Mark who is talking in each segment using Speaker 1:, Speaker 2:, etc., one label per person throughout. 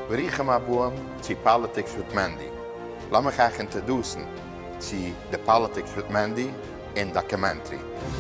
Speaker 1: ברוכים הבאים צו פאליטיקס וויט מענדי. לאמיך אייך אינטערדוסן צו די פאליטיקס וויט מענדי און דאקעמענטרי.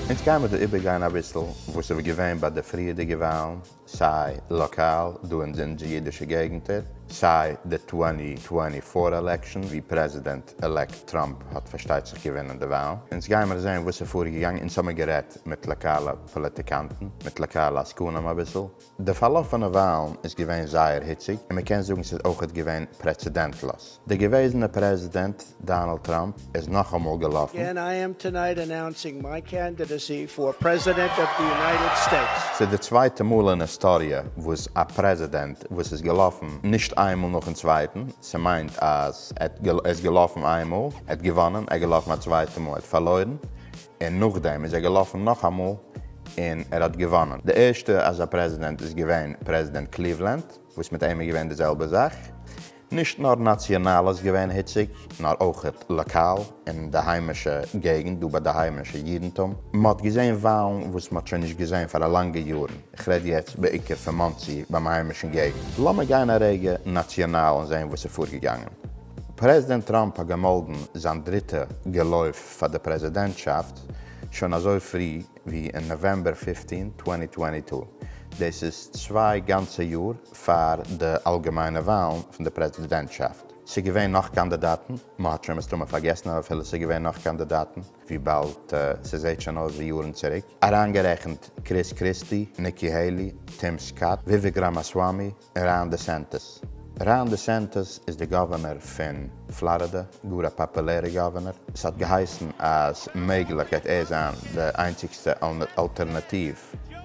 Speaker 1: אונז גייען מיט דיר איבערגיין אביסל וואס איז געווען ביי די פריערדיגע וואלן, סיי לאקאל דא אין די אונזער אידישע געגענטער, סיי די טווענטי טווענטי פאר עלעקשאן ווי פרעזידענט עלעקט טראמפ האט פארשטייט זיך געווינען די וואלן. אונז גיימער זען וואס איז פארגעגאנגען, אונז האמיר גערעדט מיט לאקאלע פאליטיקאנטן, מיט לאקאלע עסקנים אביסל. די פארלאפענע וויילן איז געווען זייער היציג, און מ'קען זאגן ס'איז אויכעט געווען פרעצעדענטלאז. דער געוועזענער פרעזידענט דאנעלד טראמפ איז נאכאמאל געלאפן. אגעין איי עם טונייט
Speaker 2: אנאונסינג מיי קענדידעסי פאר פרעזידענט אוו די יונייטעד סטעיטס. ס'איז די צווייטע מאל
Speaker 1: אין היסטאריע וואס א פרעזידענט וואס איז געלאפן נישט איין מאל נאכן צווייטן, ס'מיינט אז ער איז געלאפן איין מאל, ער האט געוואנען, ער איז געלאפן א צווייטע מאל, ער האט פארלוירן, און נאכדעם איז ער געלאפן נאכאמאל און ער האט געוואנען. די ערשטע אזא פרעזידענט איז געווען פרעזידענט קליוולענד וואס מיט אים איז געווען די זעלבע זאך. נישט נאר נאציאנאל איז געווען היציג נאר אויכעט לאקאל אין די היימישע געגענט דא ביי די היימישע אידענטום. מ'האט געזען וואלן וואס מ'האט שוין נישט געזען פאר א לאנגע יארן, כ'רעד יעצט בעיקר פון מאנסי ביים היימישן געגענט. לאמיר גיין א רגע נאציאנאל און זען וואס איז פארגעגאנגען. פרעזידענט טראמפ האט געמאלדן זיין דריטע געלויף פאר די פרעזידענטשאפט שוין אזוי פרי ווי אין נאוועמבער פֿופֿצן, צוואַנציק צוואַנציק. דאס איז צוויי גאנצע יאר פאר די אלגעמיינע וואלן פון די פרעזידענטשאפט. ס'איז געווען נאך קאנדידאטן, מ'האט שוין מסתמא פארגעסן אבער אפילו ס'איז געווען נאך קאנדידאטן, וויבאלד ס'זעהט שוין אויס ווי יארן צוריק, אריינגערעכנט קריס קריסטי, ניקי העילי, טים סקאט, וויוועק ראמאסוואמי, ראן דעסענטעס, Ron DeSantis, איז די גאווערנער פון פלארידע, גאר א פאפולערע גאווערנער, עס האט געהייסן אז מעגליך גייט ער זיין די איינציגסטע אלטערנאטיוו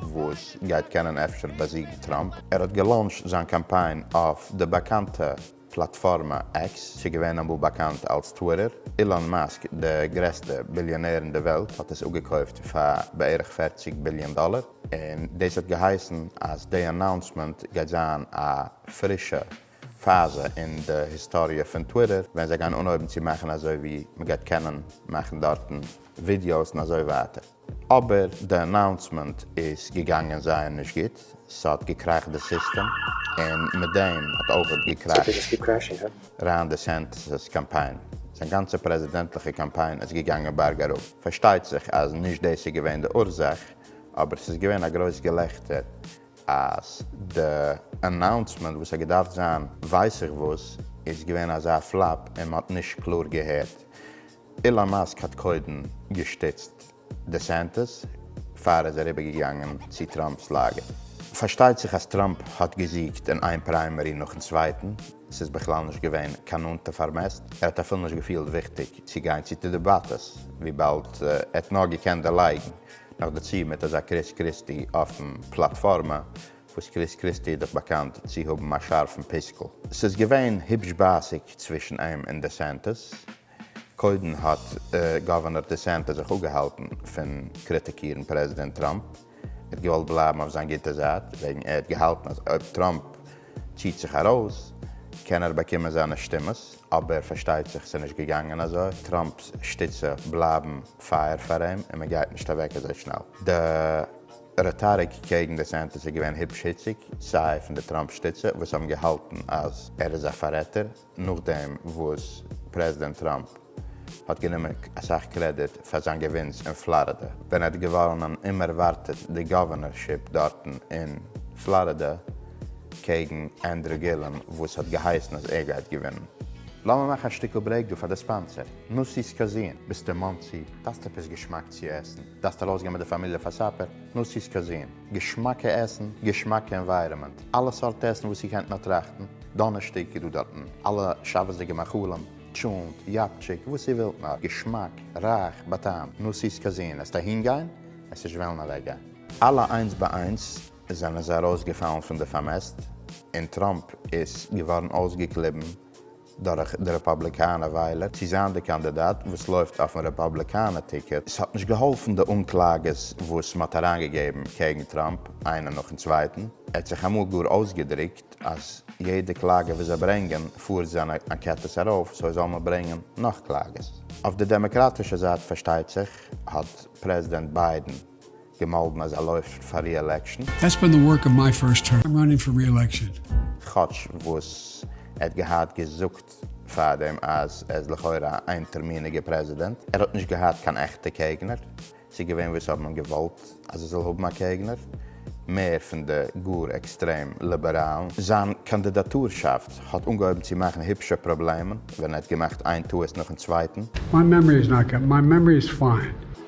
Speaker 1: וואס גייט קענען אפשר באזיגן טראמפ, ער האט געלאונטשט זיין קאמפיין אויף די באקאנטע. פלאטפארמע עקס, ס'געווען אמאל באקאנט אלס טוויטער, אילאן מאסק די גרעסטע ביליאנער אין די וועלט האט עס אפגעקויפט פאר בערך פֿערציק ביליאן דאלער, און דאס האט געהייסן אז די אנאונסמענט גייט זיין א פרישע פאזע אין די היסטאריע פון טוויטער ווען זיי גייען אנהויבן צו מאכן אזוי ווי מ'גייט קענען מאכן דארטן ווידיאוס און אזוי ווייטער. אבער די אנאונסמענט איז געגאנגען זייער נישט גוט, ס'האט געקראכט די סיסטעם, און מיט דעם האט אויכעט געקראכט ראן דעסענטיס'ס קאמפיין, זיין גאנצע פרעזידענטליכע קאמפיין איז געגאנגען בארג אראפ. פארשטייט זיך אז נישט דאס איז געווען די אורזאך, אבער ס'איז געווען א גרויס געלעכטער אז די אנאונסמענט וואס האט געדארפט זיין ווייס איך וואס איז געווען אזא פלאפ און מ'האט נישט קלאר געהערט. אילאן מאסק האט קודם געשטיצט דעסענטעס פאר ער איז אריבערגעגאנגען צו טראמפ'ס לאגער. פארשטייט זיך אז טראמפ האט געזיגט אין איין פריימערי נאכן צווייטן, ס'איז בכלל נישט געווען קיין נאנטע פארמעסט, ער האט אפילו נישט געפילט וויכטיג צו גיין צו די דעבאטעס וויבאלד ער האט נאר געקענט דערלייגן, נאכדערצו מיט אזא קריס קריסטי אויפן פלאטפארמע, וואס קריס קריסטי איז דאך באקאנט צו האבן א שארפן פיסקל. ס'איז געווען היבש בייסיג צווישן אים און דעסענטעס. קודם האט גאווערנאר דיסענטעס זיך אפגעהאלטן פון קריטיקירן פרעזידענט טראמפ, ער האט געוואלט בלייבן אויף זיין גוטע זייט, וועגן ער האט געהאלטן אז אויב טראמפ ציט זיך ארויס קען ער באקומען זיינע שטימעס, אבער פארשטייט זיך ס'איז נישט געגאנגען אזוי, טראמפ'ס שטיצע בלייבן פייער פאר אים און מ'גייט נישט אוועק אזוי שנעל. די רעטאריק קעגן דיסענטעס איז געווען היבש היציג, סיי פון די טראמפ שטיצע וואס האבן געהאלטן אז ער איז א פאררעטער, נאכדעם וואס פרעזידענט טראמפ האט גענומען אסאך קרעדיט פאר זיין געווינס אין פלארידע ווען ער האט געוואונען אומערווארטעט די גאווערנערשיפ דארטן אין פלארידע קעגן ענדרו גילעם וואס האט געהייסן אז ער גייט געווינען. לאמיר מאכן א שטיקל ברעיק דא פאר די ספאנסער, נאסי'ס קאזין, ביסט אין מאנסי? דארפסט עפעס געשמאק צו עסן? דארפסט ארויסגיין מיט די פאמיליע פאר סאפער? נאסי'ס קאזין. געשמאקע עסן, געשמאקע ענווייראמענט, אלע סארט עסן וואס איר קענט נאר טראכטן, דאנערשטאג איז דא דארטן אלע שבת'דיגע מאכלים, טשולנט, יאפטשיק, וואס איר ווילט נאר, געשמאק, רייך, בטעם, נו סיז קאזין, עסט אהין גיין, עס נישט וועלן אוועק גיין. אלע איינס ביי איינס זענען זיי ארויסגעפאלן פון די פארמעסט, און טראמפ איז געווארן אויסגעקליבן דורך די רעפאבליקאנע וויילער צו זיין די קאנדידאט וואס לויפט אויפן רעפאבליקאנע טיקעט. עס האט נישט געהאלפן די אנקלאגעס וואס מען האט אריינגעגעבן קעגן טראמפ איינע נאכן צווייטן, ער האט זיך אמאל גאר אויסגעדרוקט אז יעדע קלאגע וואס זיי ברענגען פארט זיינע אנקעטעס ארויף, סוי זאל מען ברענגען נאך קלאגעס. אויף די דעמעקראטישע זייט פארשטייט זיך האט פרעזידענט ביידען געמאלדן
Speaker 3: אז ער
Speaker 1: לויפט
Speaker 3: פאר ריעלעקשאן. דעטס בין די ווארק
Speaker 1: אוו
Speaker 3: מיי פירסט טערם,
Speaker 1: איים
Speaker 3: ראנינג פאר ריעלעקשאן. כאטש
Speaker 1: וואס ער האט געהאט געזאגט פארדעם אז ער איז לכאורה א איינטערמיניגע פרעזידענט, ער האט נישט געהאט קיין עכטע קעגנער, ס'איז געווען וואס האבן אים געוואלט אז ער זאל האבן א קעגנער, מער פון די גאר עקסטרעם ליבעראלן. זיין קאנדידאטורשאפט האט אנגעהויבן צו מאכן היפשע פראבלעמען ווען ער האט געמאכט איין טעות נאכן צווייטן. מיי מעמארי איז נאט גוט,
Speaker 3: מיי מעמארי איז פיין.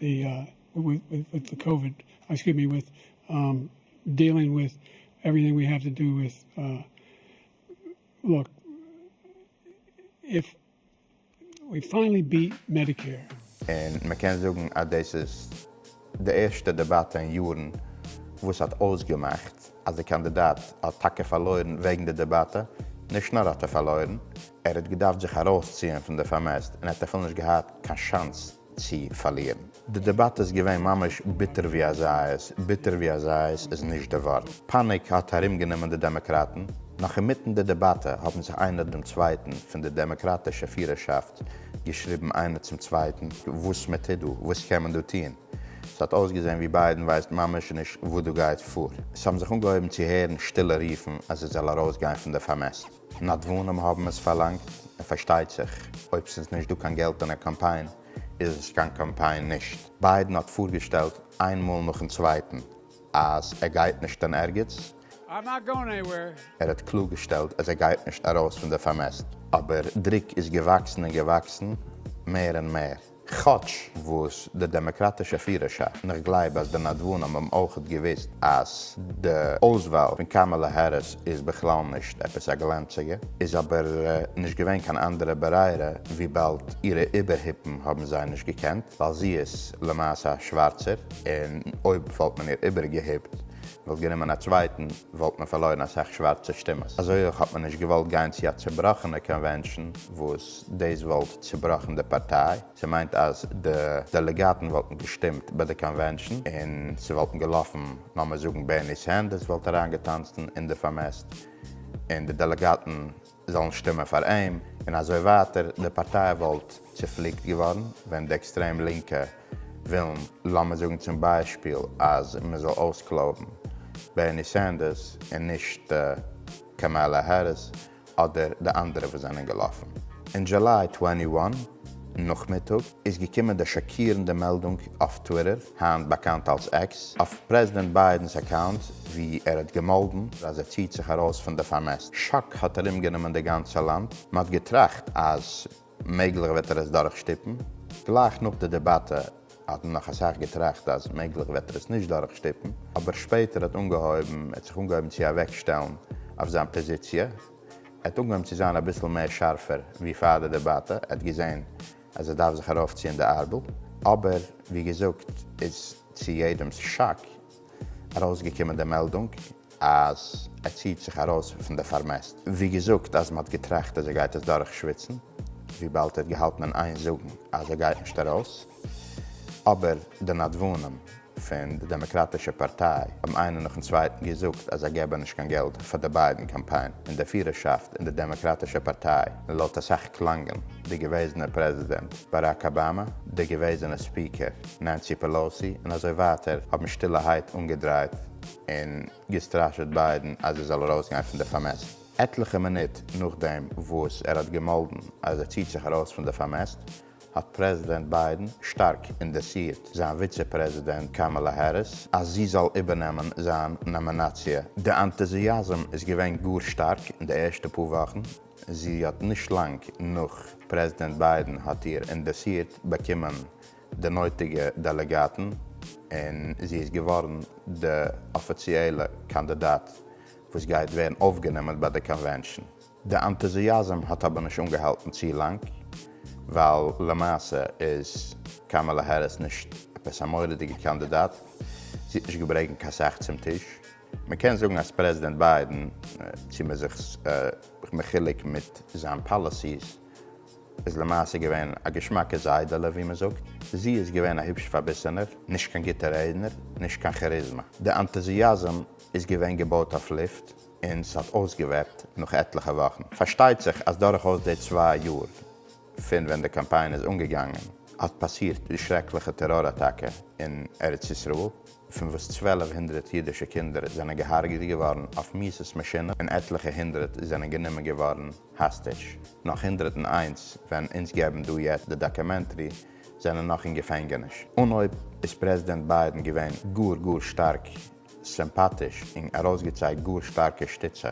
Speaker 3: די וויט די קאוויד, עקסקיוס מי, וויט דיעלינג וויט עווריטינג ווי העוו טו דא וויט, לוק איף ווי פיינעלי ביעט מעדיקעיר. און מען קען
Speaker 1: זאגן אז דאס איז די ערשטע דעבאטע אין יארן וואס האט אויסגעמאכט אז די קאנדידאט האט טאקע פארלוירן וועגן די דעבאטע, נישט נאר האט ער פארלוירן, ער האט געדארפט זיך ארויסציען פון די פארמעסט און ער האט אפילו נישט געהאט קיין שאנס צו פארלירן. די דעבאטע איז געווען ממש ביטער ווי א זייערס, ביטער ווי א זייערס איז נישט די ווארט. פאניק האט ארומגענומען די דעמאקראטן, נאך אינמיטן די דעבאטע האבן זיך איינער דעם צווייטן פון די דעמאקראטישע פירערשאפט געשריבן איינער צום צווייטן וואס מען טוט דא, וואס קען מען דא טון. ס'האט אויסגעזען ווי ביידן ווייסט ממש נישט וואס דא גייט פאר. ס'האבן זיך אנגעהויבן צו הערן שטילע רופן אז ער זאל ארויסגיין פון די פארמעסט. נדבנים האבן עס פארלאנגט, און פארשטייט זיך אויב ס'איז נישט דא קיין געלט אין א קאמפיין איז עס קיין קאמפיין נישט. ביידן האט פארגעשטעלט איין מאל נאכן צווייטן אז ער גייט נישט אין ערגעץ, I'm not going
Speaker 3: anywhere. ער האט קלארגעשטעלט
Speaker 1: אז ער גייט נישט ארויס פון די פארמעסט, אבער דרוק איז געוואקסן און געוואקסן מער און מער. כאטש וואס די דעמאקראטישע פירערשאפט, און איך גלייב אז די נדבנים האבן אויכעט געוואוסט אז די אויסוואל פון קאמאלע העריס איז בכלל נישט עפעס א גלאנציגע, איז אבער נישט געווען קיין אנדערע ברירה וויבאלד אירע איבערהיפן האבן זיי נישט געקענט, ווייל זי איז למעשה א שווארצער, און אויב וואלט מען איר איבערגעהיפט וואלט גענומען א צווייטן וואלט מען פארלוירן אסאך שווארצע שטימעס, אזוי אויך האט מען נישט געוואלט גיין צו א צובראכענע קאנווענשאן וואס. דאס וואלט צובראכן די פארטיי, ס'מיינט אז די דעלעגאטן וואלטן געשטימט ביי די קאנווענשאן און ס'וואלטן געלאפן לאמיר זאגן בערני סענדערס וואלט אריינגעטאנצן אין די פארמעסט און די דעלעגאטן זאלן שטימען פאר אים און אזוי ווייטער, די פארטיי וואלט צופליקט געווארן ווען די עקסטרעם לינקע ווילן לאמיר זאגן צום ביישפיל אז מ'זאל אויסקלויבן בערני סענדערס און נישט קאמאלא העריס. אדער די אנדערע וואס זענען געלאפן. אין דזשוליי טווענטי וואן נאכמיטאג איז געקומען די שאקירנדע מעלדונג אויף טוויטער, היינט באקאנט אלס עקס, אויף פרעזידענט ביידען'ס אקאונט ווי ער האט געמאלדן אז ער ציעט זיך ארויס פון די פארמעסט. שאק האט ארומגענומען די גאנצע לאנד, מען האט געטראכט אז. מעגליך וועט ער עס דורכשטופן. גלייך נאך די דעבאטע האט מען נאך אסאך געטראכט אז מעגליך וועט ער עס נישט דורכשטופן, אבער שפעטער האט אנגעהויבן ער האט זיך אנגעהויבן צו אוועקשטעלן אויף זיין פאזיציע, ער האט אנגעהויבן צו זיין אביסל מער שארפער ווי פאר די דעבאטע, ער האט געזען אז ער דארף זיך ארויפציען די ארבל, אבער ווי געזאגט איז צו יעדעמ'ס שאק, ארויסגעקומען די מעלדונג אז ער ציעט זיך ארויס פון די פארמעסט, ווי געזאגט אז מען האט געטראכט אז ער גייט עס דורך שוויצן, וויבאלד ער האט געהאלטן אין איין זאגן אז ער גייט נישט ארויס, אבער די נדבנים פון די דעמעקראטישע פארטיי האבן איינער נאכן צווייטן געזאגט אז זיי געבען נישט קיין געלט פאר די ביידען קאמפיין און די פירערשאפט אין די דעמעקראטישע פארטיי און לויט אסאך קלאנגען די געוועזענער פרעזידענט באראק אבאמא, די געוועזענע ספיקער. נענסי פעלאוסי און אזוי ווייטער האבן שטילערהייט אנגעדרייט און געסטראשעט ביידען אז ער זאל ארויסגיין פון די פארמעסט. עטליכע מינוט נאכדעם וואס ער האט געמאלדן אז ער ציט זיך ארויס פון די פארמעסט האט פרעזידענט ביידען שטארק אינדארסירט זיין וויצע פרעזידענט קאמאלא העריס אז זי זאל איבערנעמען זיין נאמינאציע. די אנטוזיאזם איז געווען גאר שטארק אין די ערשטע פאר וואכן, זי האט נישט לאנג נאך פרעזידענט ביידען האט איר אינדארסירט באקומען די נויטיגע דעלעגאטן און זי איז געווארן די אפיציעלע קאנדידאט וואס גייט ווערן אויפגענומען ביי די קאנווענשאן. די ענטוזיאזם האט אבער נישט אנגעהאלטן צו לאנג, ווייל למעשה איז קאמאלע העריס נישט עפעס א מורא'דיגע קאנדידאט, זי האט נישט געברעגנט קיין סאך צום טיש. מען קען זאגן אז פרעזידענט ביידען, צו מען איז זיך מחולק מיט זיין פאליסיס, איז למעשה געווען א געשמאקע זיידעלע ווי מען זאגט, זי איז געווען א היבש פארביסענער, נישט קיין גוטע רעדנער, נישט קיין כעריזמא. די אנטוזיאזם איז געווען געבויט אויף לופט און ס'האט אויסגעוועפט נאך עטליכע וואכן. פארשטייט זיך אז דורכאויס די צוויי יאר פון ווען די קאמפיין איז אנגעגאנגען האט פאסירט די שרעקליכע טעראר אטאקע אין ארץ ישראל פון וואס צוועלף הונדרעט אידישע קינדער זענען געהארגעט געווארן אויף מיסס מאשינען און עטליכע הונדרעט זענען גענומען געווארן האסטעדזש, נאך הונדרעט און איינס ווען אונז געבן דא יעצט די דאקעמענטרי זענען נאך אין געפענגעניש. אנהויב איז פרעזידענט ביידען געווען גאר גאר שטארק סימפאטיש און ארויסגעצייגט גאר שטארקע שטיצע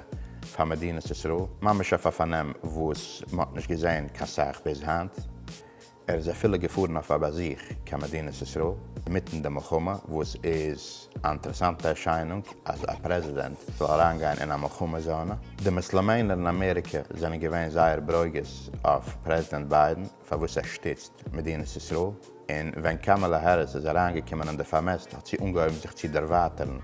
Speaker 1: פאר מדינת ישראל, ממש אויף א פארנעם וואס מ'האט נישט געזעהן קיין סאך ביז היינט, ער איז אפילו געפארן אויף א באזוך קיין מדינת ישראל מיטן די מלחמה, וואס איז א אינטערעסאנטע ערשיינונג אז א פרעזידענט זאל אריינגיין אין א מלחמה זאנע. די מוסלעמענער אין אמעריקע זענען געווען זייער ברוגז אויף פרעזידענט ביידען פארוואס ער שטיצט מדינת ישראל, און ווען קאמאלע העריס איז אריינגעקומען אין די פארמעסט האט זי אנגעהויבן זיך צו דערווייטערן,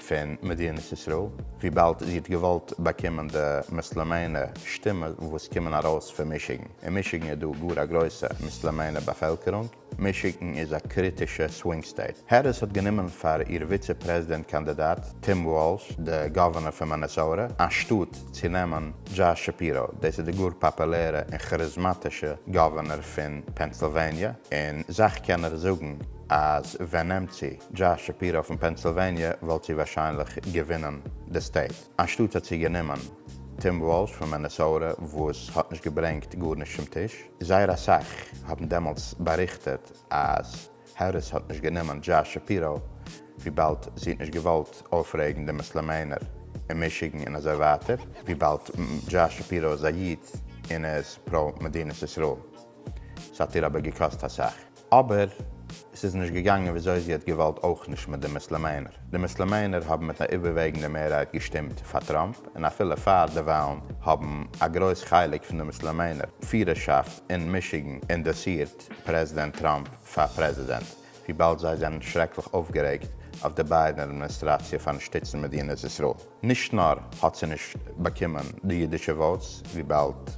Speaker 1: פון מדינת ישראל, וויבאלד זי האט געוואלט באקומען די מוסלעמענע שטימע וואס קומען ארויס פון מישיגן, אין מישיגן איז דא גאר א גרויסע מוסלעמענע באפעלקערונג, מישיגן איז א קריטישע סווינג סטעיט. העריס האט גענומען פאר איר וויצע פרעזידענט קאנדידאט טים וואלש, די גאווערנער פון מאנעסאוטע, אנשטאט צו נעמען דזשאש שפירא, דאס איז די גאר פאפולערע און כאריזמאטישע גאווערנער פון פענסילוועניע, און סאך קענער זאגן אז ווען נעמט צו דזשאש שפירא פון פענסילוועניע וואלט זי ווארשיינליך געווינען די סטעיט, אנשטאט האט זי גענומען טים וואלש פון מענעסאוטע וואס האט נישט געברענגט גארנישט צום טיש, זייער אסאך האבן דעמאלטס באריכטעט אז העריס האט נישט גענומען דזשאש שפירא וויבאלד זי האט נישט געוואלט אויפרעגן די מוסלעמענער אין מישיגן און אזוי ווייטער וויבאלד דזשאש שפירא איז א איד און ער איז פרא מדינת ישראל ס'האט איר אבער געקאסט אסאך. אבער עס איז נישט געגאנגען וויאזוי זי האט געוואלט אויך נישט מיט די מוסלעמענער. די מוסלעמענער האבן מיט א איבערוועגנדע מערהייט געשטימט פאר טראמפ און אפילו פאר די וואלן האבן א גרויס חלק פון די מוסלעמענער פירערשאפט אין מישיגן אינדארסירט פרעזידענט טראמפ פאר פרעזידענט וויבאלד זיי זענען שרעקליך אויפגערעגט אויף די ביידן אדמיניסטראציע פארן שטיצן מדינת ישראל. נישט נאר האט זי נישט באקומען די אידישע וואוטס וויבאלד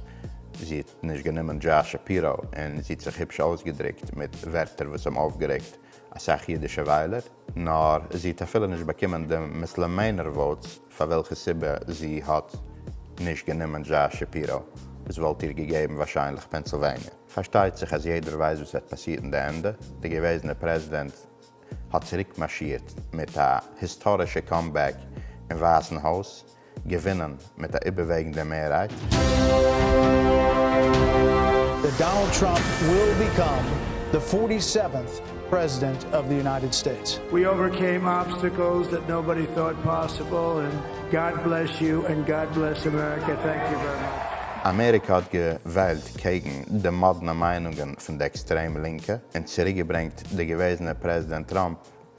Speaker 1: זי. נישט גענומען דזשאס שפירא און זי האט זיך היפש אויסגעדרוקט מיט ווערטער וואס האבן אויפגערעגט אסאך אידישע וויילער, נאר זי האט אפילו נישט באקומען די מוסלעמענער וואוטס פאר וועלכע סיבה זי האט נישט גענומען דזשאס שפירא וואס וואלט איר געגעבן ווארשיינליך פענסילוועניע. פארשטייט זיך אז יעדער ווייסט וואס וועט פאסירן די ענדע, די געוועזענע פרעזידענט האט צוריקמארשירט מיט א היסטארישע קאמבעק אין ווייסן הויז, געווינען מיט א איבערוועגנדע מערהייט. דעט
Speaker 4: דאנאלד טראמפ וויל ביקאם די פארטי סעווענט פרעזידענט אוו די יונייטעד סטעיטס. ווי אווערקעים
Speaker 2: אבסטעקלס דעט נאבאדי טאוט פאסיבל און גאד בלעס יו און גאד בלעס אמעריקא טענק יו ווערי מאטש. אמעריקע האט געוועלט
Speaker 1: קעגן די מאדנע מיינונגען פון די עקסטרעם לינקע און צוריקגעברענגט די געוועזענע פרעזידענט טראמפ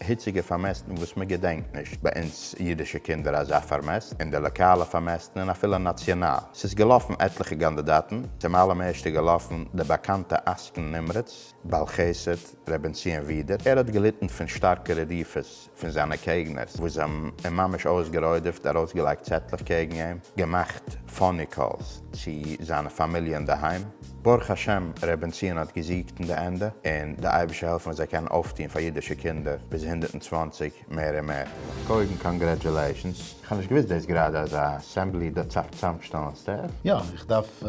Speaker 1: היציגע פארמעסטן וואס מען געדענקט נישט ביי אונז אידישע קינדער אזא פארמעסט, און די לאקאלע פארמעסטן און אפילו נאציאנאל. ס'איז געלאפן עטליכע קאנדידאטן, צום אלעם ערשט איז געלאפן דער באקאנטע עסקן נמרץ, בעל חסד, ר' בנציון ווידער, ער האט געליטן פון שטארקע רדיפות פון זיינע קעגנערס וואס זיי האבן אים ממש אויסגערוידעפט, ארויסגעלייגט צעטלעך קעגן אים, געמאכט פאני קאלס צו זיינע פאמיליע אינדערהיים. ברוך השם ר' בנציון האט געזיגט אין די ענדע, און די אייבישע העלפן אז ער קען אויפטוהן פאר אידישע קינדער ביז הונדערט און צוואַנציק מער און מער. קודם קאנגרעטשולעישאנס, איך האב נישט געוויסט דאס גראדע אז א אסעמבלי דארט צאפט צוזאמשטעלן סטעף. יא, איך דארף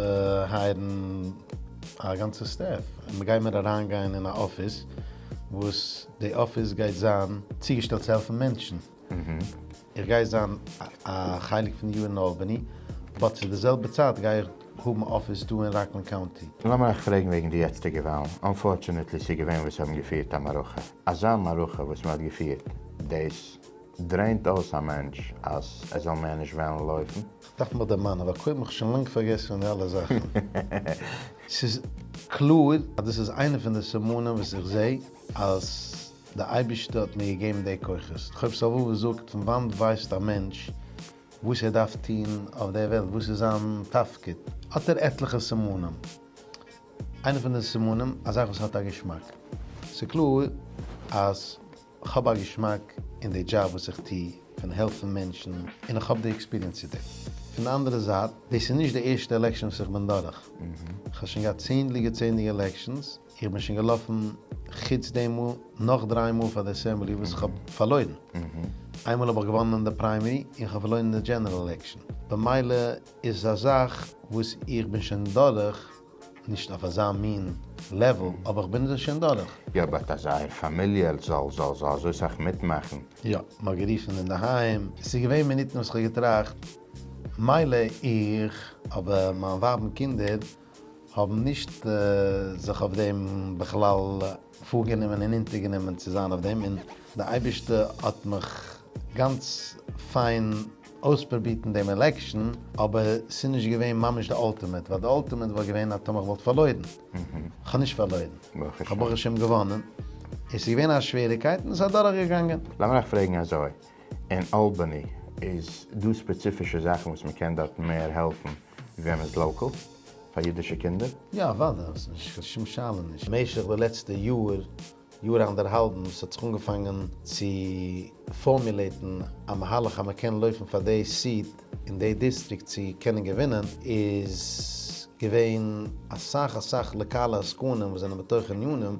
Speaker 5: הייערן א גאנצע סטעף, און מ'גייט מיר אריינגיין אין א אפיס, וואס די אפיס גייט זיין צוגעשטעלט צו העלפן מענטשן. איך גיי זיין א חלק פון די יאר אין אלבאני, באט צו די זעלבע צייט גיי איך האבן אפיס דא אין ראקלענד קאונטי. לאמיר אייך פרעגן וועגן
Speaker 1: די יעצטיגע וואלן, אנפארטשענעטלי ס'געווען וואס האבן געפירט א מערכה, אזא מערכה וואס מ'האט געפירט, דאס דרעינט אויס א מענטש אז ער זאל מער נישט וועלן לויפן. כ'דארף מיך
Speaker 5: דערמאנען ווייל קוים האב איך שוין לאנג פארגעסן פון די אלע
Speaker 1: זאכן.
Speaker 5: ס'איז קלאר אז דאס איז איינע פון די סימנים וואס איך זעה אז. די אייבישטע האט מיר געגעבן די כוחות, כ'האב סבבה זאגט פון וואנט ווייסט א מענטש וואס ער דארף טון אויף די וועלט וואס איז זיין תפקיד, האט ער עטליכע סימנים, איינע פון די סימנים א זאך וואס האט א געשמאק, ס'קלאר אז כ'האב א געשמאק אין די דזשאב וואס איך טו פון העלפן מענטשן און איך האב די עקספיריענס צו דעם, פון די אנדערע זייט דאס איז נישט די ערשטע עלעקשאן וואס איך בין דורך, כ'האב שוין געהאט צענדליגע צענדליגע עלעקשאנס, איך בין שוין געלאפן חוץ די מאל נאך דריי מאל פאר די אסעמבלי וואס איך האב פארלוירן. איינמאל האב איך געוואנען אין די פריימערי און איך האב פארלוירן אין די דזשענעראל עלעקשאן. במילא איז עס א זאך וואס איך בין שוין דורך, נישט אויף אזא מין לעוועל, אבער איך בין עס שוין דורך. יא באט אז אייער
Speaker 1: פאמיליע זאל זאל זאל אזוי סאך מיטמאכן. יא, מ'האט גערופן
Speaker 5: אינדערהיים, עס איז געווען מינוטן וואס איך האב געטראכט מילא איך, אבער מיין ווייב און קינדער. האבן נישט זיך אויף דעם בכלל פארגענומען און אונטערגענומען צו זיין אויף דעם, און די אייבערשטע האט מיך גאנץ פיין אויספרובירט אין דעם עלעקשאן, אבער ס'איז נישט געווען ממש די אלטימעט, ווייל די אלטימעט וואלט געווען אז טאמער כ'וואלט פארלוירן, כ'האב נישט פארלוירן, כ'האב ברוך השם געוואנען, און ס'איז געווען א שוועריקייט און ס'איז אדורך געגאנגען. לאמיר אייך פרעגן אזוי,
Speaker 1: אין אלבאני איז דא ספעציפישע זאכן וואס מ'קען דארט מער העלפן וועם איז לאקעל? פאר אידישע קינדער? יא אוודאי, ס'איז
Speaker 5: נישט קיין שום שאלה נישט. משך די לעצטע יאר, יאר אנדערהאלבן, וואס האט זיך אנגעפאנגען צו פארמולעטן א מהלך אז מען קען לויפן פאר די סיעט אין די דיסטריקט צו קענען געווינען, איז געווען אסאך אסאך לאקאלע עסקנים וואס זענען בתוך ענינים,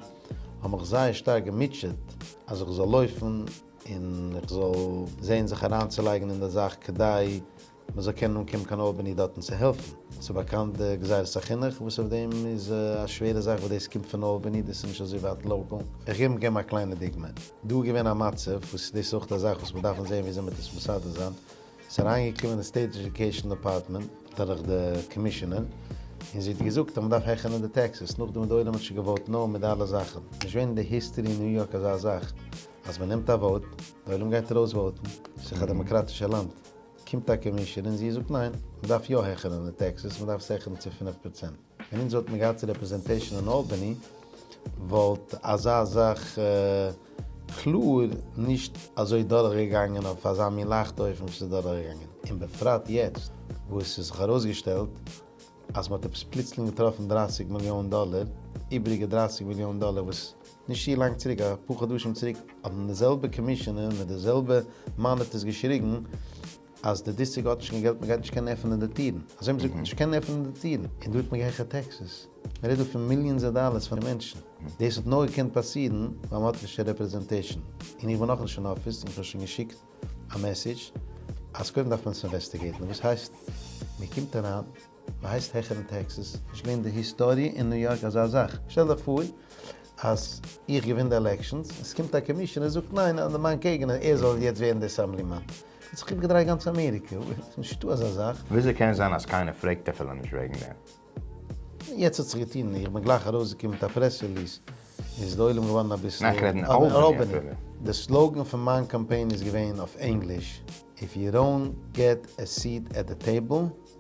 Speaker 5: האבן מיך זייער שטארק געמוטשעט אז איך זאל לויפן און איך זאל זען זיך אריינצולייגן אין די זאך כדי מען זאל קענען אנקומען קיין אלבעני דארטן צו העלפן. ס'איז באקאנט די גזירת החינוך וואס אויף דעם איז א שווערע זאך וואס דאס קומט פון אלבעני, דאס איז נישט אזוי ווייט לאקאל. איך געב געבן א קליינע דוגמא. דא איז געווען א מצב וואס דאס איז אויך א זאך וואס מיר דארפן זען וויאזוי מ'טוט עס מסדר זיין. ס'איז אריינגעקומען די סטעיט עדיוקעישאן דעפארטמענט דורך די קאמישינער און זי האט געזאגט אז מ'דארף העכערן די טעקסעס. נאכדעם האט די עולם האט שוין געוואוט נאו מיט די אלע זאכן. נישט געווען אין די היסטערי אין ניו יארק אזא זאך אז מ'נעמט א וואוט, די עולם גייט ארויס וואוטן. ס'איז דאך א דעמאקראטישע לאנד. קומט א קאמישאן און זי זאגט ניין, מ'דארף יא העכערן די טעקסעס, מ'דארף עס העכערן צו פֿינף פראצענט. ווען אונז וואלטן געהאט רעפרעזענטעישאן אין אלבעני וואלט אזא זאך קלאר נישט אזוי דורך געגאנגען אויף אזא מין לייכטע אופן ווי ס'איז דורך געגאנגען, און בפרט יעצט וואס ס'איז זיך ארויסגעשטעלט אז מ'האט עפעס פלוצלינג געטראפן דרײַסיק מיליאן דאלער, איבריגע דרײַסיק מיליאן דאלער וואס. נישט צו לאנג צוריק, א פאר חדשים צוריק, האבן די זעלבע קאמישאנער מיט די זעלבע מאניטערס געשריגן אז די דיסטריקט האט נישט קיין געלט, מען גייט נישט קענען עפענען די טירן. אזוי האבן זיי געזאגט, נישט קענען עפענען די טירן. און דא האט מען געהעכערט טעקסעס. מען רעדט דא פון מיליאנס אוו דאלערס פאר די מענטשן. דאס האט נאר געקענט פאסירן ווייל מען האט נישט קיין רעפרעזענטעישאן. און איך בין נאכנישט אין אפיס און איך האב שוין געשיקט א מעסעדזש אז קודם דארף מען עס אינוועסטיגעיטן. וואס הייסט מען קומט אריין? מ'הייסט העכערן טעקסעס? נישט געווען די היסטארי אין ניו יארק אזא זאך. שטעל דיך פאר אז איך געווין די עלעקשאנס, און ס'קומט א קאמישאנער זאגט ניין אז מיין קעגנער ער זאל יעצט ווערן די אסעמבלימאן. וואלט זיך איבערגעדרייט גאנץ אמעריקע. נישטא אזא זאך. וויאזוי קען זיין אז קיינער
Speaker 1: פרעגט אפילו נישט וועגן דעם? יעצט האט זיך געטון,
Speaker 5: איך בין גלייך ארויסגעקומען מיט א פרעס רעליס, איז די עולם געווארן אביסל אלבעני.
Speaker 1: די סלאגען
Speaker 5: פון מיין קאמפיין איז געווען אויף ענגליש, איף יו דאונט געט ע סיעט עט די טעיבל.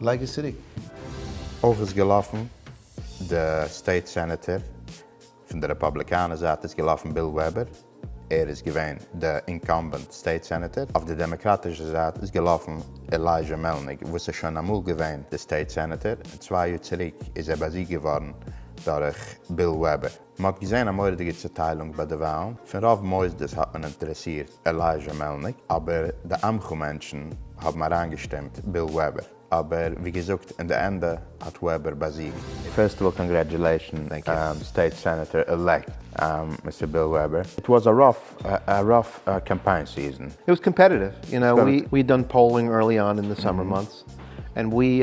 Speaker 5: לייג עס צוריק. אויך
Speaker 1: איז געלאפן די סטעיט סענעטער פון די רעפאבליקאנע זייט איז געלאפן ביל וועבער ער איז געווען די אינקאמבענט סטעיט סענעטער, אויף די דעמעקראטישע זייט איז געלאפן עלייזשע מעלניק וואס איז שוין אמאל געווען די סטעיט סענעטער און צוויי יאר צוריק איז ער באזיגט געווארן דורך ביל וועבער. מען האט געזען א מורא'דיגע צוטיילונג ביי די וואלן, פון רוב מוסדות האט מען אינטערעסירט עלייזשע מעלניק, אבער די עמך מענטשן האבן אריינגעשטימט ביל וועבער, אבער ווי געזאגט אין די ענדע האט וועבער באזיגט. פירסט אוו אלל קאנגרעטשולעישן סטעיט סענעטער עלעקט מיסטער ביל וועבער, איט וואס א ראף א ראף קאמפיין סיזען. איט וואס קאמפעטיטיוו,
Speaker 6: יו נאו, ווי דאן פאולינג ערלי אן אין די סאמער מאנטס, ענד ווי.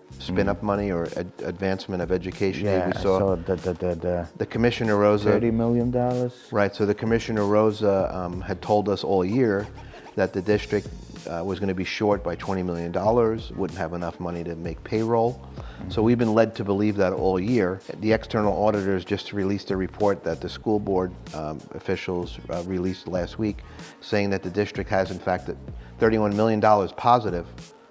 Speaker 6: ספין אפ מאני אר עדווענסמענט אוו עדיוקעישאן ווי ווי סא די קאמישענער ראזע טערטי מיליאן דאלערס
Speaker 1: רייט סא די
Speaker 6: קאמישענער ראזע העד טאלד אס אלל יער דעט די דיסטריקט וואס גאנע בי שארט ביי טווענטי מיליאן דאלערס וואלדנט העוו ענאף מאני טו מעיק פעיראל סא ווי בין לעד טו בעליוו דעט אלל יער די עקסטערנעל אודיטערס דזשאסט ריליעסט דער ריפארט דעט די סקול באורד אפישעלס ריליעסט לאסט וויק סעיאינג דעט די דיסטריקט העז אינפעקטעד טערטי וואן מיליאן דאלערס פאזיטיוו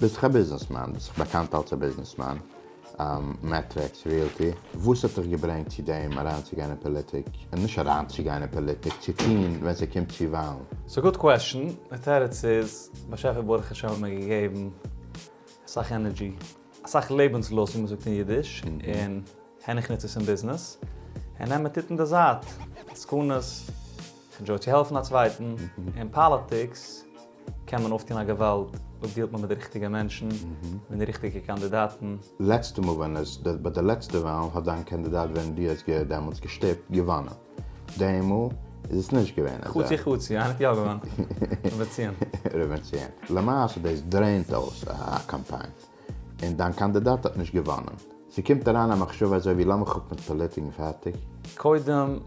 Speaker 1: ביסט איך א ביזנעסמאן? ביסט איך באקאנט אלץ א ביזנעסמאן? מעטריקס, ריעלטי. וואס האט דיך געברענגט צו דעם אריינצוגיין אין פאליטיק? און נישט אריינצוגיין אין פאליטיק, צו טון ווען ס'קומט צו וואלן. ס'איז א גוד קוועשן,
Speaker 7: די תירוץ איז, באשעפער ברוך השם האט מיר געגעבן אסאך ענערדזשי, אסאך לעבנסלוסט ווי מ'זאגט אין אידיש, און העניך נוץ עס אין ביזנעס, און העמער טוט אין די זייט עסקנות. פון דזשאוי צו העלפן א צווייטן. אין פאליטיקס קען מען אויפטון א געוואלד אויב דילט מען מיט די ריכטיגע מענטשן, מיט די ריכטיגע קאנדידאטן. לעצטע מאל ווען
Speaker 1: עס, ביי די לעצטע וואלן, האט דיין קאנדידאט וועם דו האסט געהערט דעמאלטס געשטיפט, געוואנען. די מאל איז עס נישט געווען אזוי. חצי חצי, איינער האט יא
Speaker 7: געוואנען. ר' בנציון. ר' בנציון.
Speaker 1: למעשה דאס דרעינט אויס א קאמפיין. און דיין קאנדידאט האט נישט געוואנען. ס'קומט אריין א מחשבה אזוי ווי לאמיר כאפן פאליטיק און פארטיק. קודם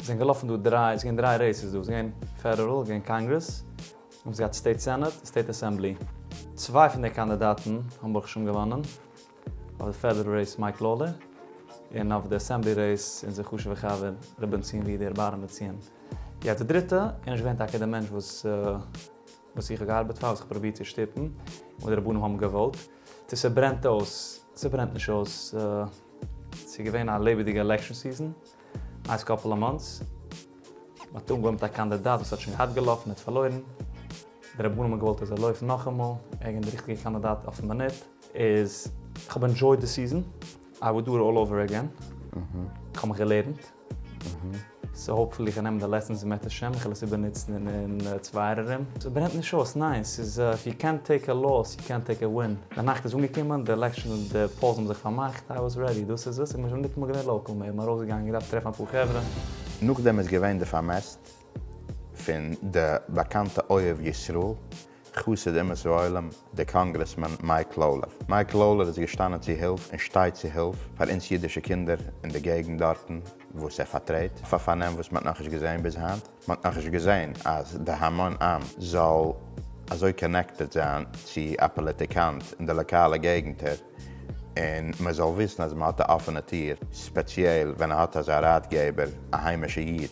Speaker 7: זענען געלאפן דא דריי, ס'געווען דריי רעיסעס דא, ס'געווען פעדערעל, ס'געווען קאנגרעס, און ס'געהאט סטעיט סענעט און סטעיט אסעמבלי. צוויי פון די קאנדידאטן האבן ברוך השם געוואנען, אויף די פעדערעל רעיס מייק לאולער, און אויף די אסעמבלי רעיס אונזער חשוב'ער חבר ר' בנציון ווידער, בארעמבער ציון. יעצט די דריטע, און נישט געווען טאקע די מענטש וואס. וואס איך האב געארבעט פאר, וואס איך האב פרובירט צו שטופן, וואס די רבנים האבן געוואלט, צו ס'ברענט אויס, ס'ברענט נישט אויס, ס'איז געווען א לעבעדיגע עלעקשאן סיזען, נייס קאפעל אוו מאנטס, מ'האט אנגעווארמט א קאנדידאט וואס האט שוין געהאט געלאפן און פארלוירן, די רבנים האבן געוואלט ער זאל לויפן נאכאמאל, ערגעץ די ריכטיגע קאנדידאט אויפן מינוט, איז איך האב ענדשויד די סיזען. איי וואלד דא אלל אווער עגעין, כ'האב מיך געלערנט, סאו האופפולי איך נעם די לעסענס בעזרת השם, איך וועל עס איבער נוצן אין צווייער ארום, ס'ברענט נישט אויס, ניין, ס'איז איף יו קענט טעיק א לאס יו קענט טעיק א ווין, די נאכט איז אנגעקומען, די עלעקשאן, די פאולס האבן זיך פארמאכט, איי וואס רעדי, דאס איז עס, איך בין שוין ניטאמאל געווען לאקעל מער, כ'בין ארויס געגאנגען, געדארפט טרעפן אפאר חברה. נאכדעם איז
Speaker 1: געווען די פארמעסט פון די באקאנטע אוהב ישראל, חסיד אומות העולם, דער קאנגרעסמאן מייק לאולער. מייק לאולער איז געשטאנען צו הילף און שטייט צו הילף פאר אונז אידישע קינדער אין די געגנט דארטן וואס ער פארטרעט, אויף א פארנעם וואס מ'האט נאכנישט געזען ביז היינט. מ'האט נאכנישט געזען אז די המון עם זאל אזוי קאנעקטעד זיין צו א פאליטיקאנט אין די לאקאלע געגנטער און מ'זאל וויסן אז מ'האט א אפענע טיר, ספעציעל ווען ער האט אזא ראטגעבער, א היימישע איד.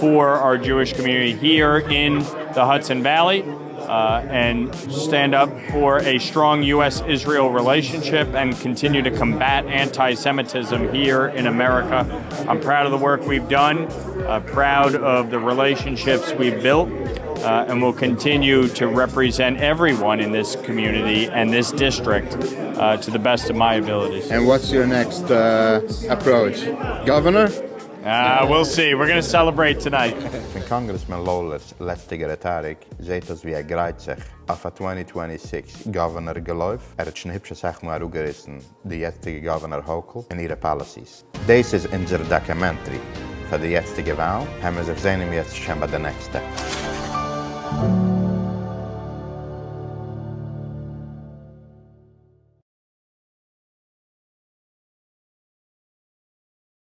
Speaker 8: פאר אור דזשואיש קאמיוניטי היער אין די האדסאן וועלי ענד סטענד אפ פאר עי סטראנג יו עס איזריעל רילעישאנשיפ ענד קאנטיניו טו קאמבעט אנטי סעמיטיזם היער אין אמעריקא איים פראוד אוו די ווארק ווי'וו דאן פראוד אוו די רילעישאנשיפס ווי'וו בילט ענד וויל קאנטיניו טו רעפריזענט עווריוואן אין דיס קאמיוניטי ענד דיס דיסטריקט טו די בעסט אוו מיי אביליטיס. ענד וואטס יור נעקסט
Speaker 1: עפראוטש? גאווערנאר? אה, וויל
Speaker 8: סי, וויר גאנא סעלעברעיט טאנייט. פון קאנגרעסמאן
Speaker 1: לאולער'ס לעצטיגע רעטאריק זעהט אויס ווי ער גרייט זיך אויף א טווענטי טווענטי סיקס גאווערנער געלויף, ער האט שוין היפש אסאך מאל אראפגעריסן די יעצטיגע גאווערנער האוקול און אירע פאליסיס. דעיס איז אונזער דאקעמענטרי פאר די יעצטיגע וואלן, העמער זיך זעהן אום יעצט שוין ביי די נעקסטע.